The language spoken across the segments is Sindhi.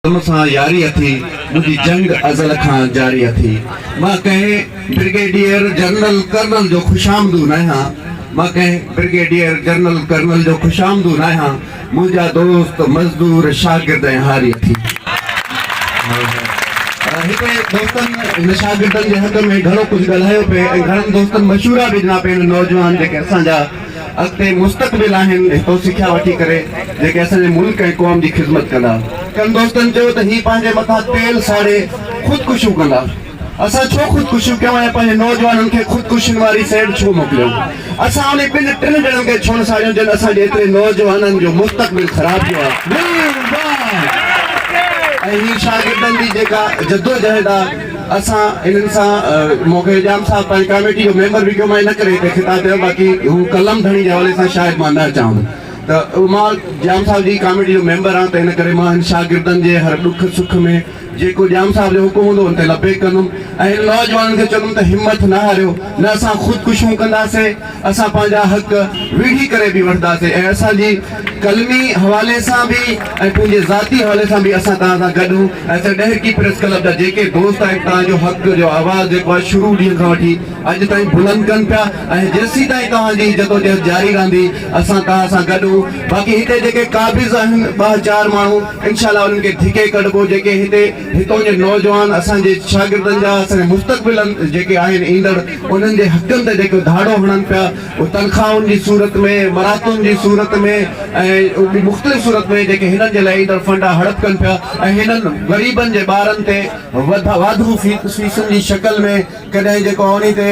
تون سان ياري اٿي، منهنجي جنگ ازل کان جاري اٿي. مان ڪنهن برگيڊيئر جنرل ڪرنل جو خوشامدو ناهيان، مان ڪنهن برگيڊيئر جنرل ڪرنل جو خوشامدو ناهيان، منهنجا دوست مزدور شاگرد ۽ هاري اٿي. هتي دوستن هن شاگردن جي حق ۾ گهڻو ڪجهه ڳالهايو پئي ۽ گهڻن دوستن مشورا به ڏنا پئي هن نوجوان جيڪي اسان جا اڳتي مستقبل آهن هتو سکيا وٺي ڪري جيڪي اسان جي ملڪ ۽ قوم جي خذمت ڪندا. ڪن دوستن چيو ته هي پنهنجي مٿان تيل ساڙي خودڪشيون ڪندا اسان ڇو خودڪشيون ڪيون ۽ پنهنجي نوجوانن کي خودڪشين واري سئيڊ ڇو موڪليون اسان انهي ٻن ٽن ڄڻن کي ڇونه ساڙيون جن اسان جي ايتري نوجوانن جو مستقبل خراب ڪيو آهي ۽ هي شاگردن جي جيڪا جدوجهد آهي. اسان انهن سان مون کي ڄام صاحب پنهنجي ڪاميٽي جو ميمبر به ڪيو مان ان ڪري هتي خطاب ڪيو باقي هو قلم ڌڻي جي حوالي سان شايد مان نه اچان هن ته مان ڄام صاحب جي ڪاميٽي جو ميمبر آهيان ته ان ڪري مان هن شاگردن جي هر ڏک سک ۾ جيڪو ڄام صاحب جو حڪم هوندو ان تي لبيڪ ڪندم ۽ هن نوجوانن کي چوندم ته همٿ نه هاريو نه اسان خودڪشيون ڪنداسين اسان پنهنجا حق ويڙهي ڪري به وٺنداسين ۽ اسان جي قلمي حوالي سان به ۽ پنهنجي ذاتي حوالي سان به اسان توهان سان گڏ هون ۽ اسان ڏهرڪي پريس ڪلب جا جيڪي دوست آهن توهان جو حق جو آواز جيڪو آهي شروع ڏينهن کان وٺي اڄ تائين بلند ڪن پيا ۽ جيسيتائين توهان جي جدوجهد جاري رهندي اسان توهان سان گڏ هون باقي هتي جيڪي قابض آهن ٻه چار ماڻهو انشاء الله انهن کي ڌڪي ڪڍبو جيڪي هتي هتان جا نوجوان اسان جي شاگردن جا اسان جا مستقبل جيڪي آهن ايندڙ انهن جي حقن تي جيڪو ڌاڙو هڻن پيا اهو تنخواهن جي صورت ۾ مراتون جي صورت ۾ ۽ مختلف صورت ۾ جيڪي هنن جي لاء ايندڙ فنڊا هڙپ ڪن پيا ۽ هنن غريبن جي ٻارن تي واڌو فيسن جي شڪل ۾ ڪڏهن جيڪو آهي انهي تي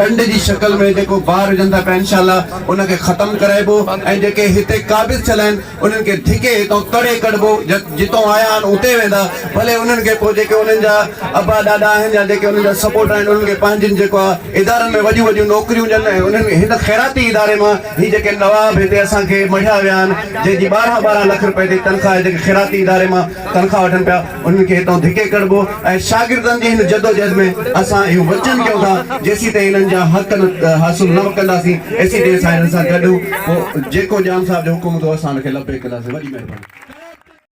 ڏنڊ جي شڪل ۾ جيڪو بار وجهن ٿا پيا انشاء الله ان کي ختم ڪرائبو ۽ جيڪي هتي قابض ٿيل آهن انهن کي ڌڪي هتان ڪڍي ڪڍبو، جتان آيا آهن اتي ويندا، ڀلي انهن کي پوء جيڪي انهن جا ابا ڏاڏا آهن يا جيڪي انهن جا سپورٽر آهن انهن کي پنهنجين جيڪو آهي ادارن ۾ وڏيون وڏيون نوڪريون ڏين ۽ انهن کي هن خيراتي اداري مان هي جيڪي نواب هتي اسان کي مڙهيا ويا آهن جنهن جي ٻارهن ٻارهن لک رپئي تي تنخواهه جيڪي خيراتي اداري مان تنخواهه وٺن پيا انهن کي هتان ڌڪي ڪڍبو ۽ شاگردن جي هن جدوجهد ۾ اسان اهو وچن ڪيون ٿا جيسيتائين هنن جا حق حاصل نه ڪنداسين ايسيتائين اسان هنن سان گڏ هون پوء جيڪو ڄام صاحب جو حڪم هوندو اسان ان کي لبيڪ ڪنداسين وڏي مهرباني.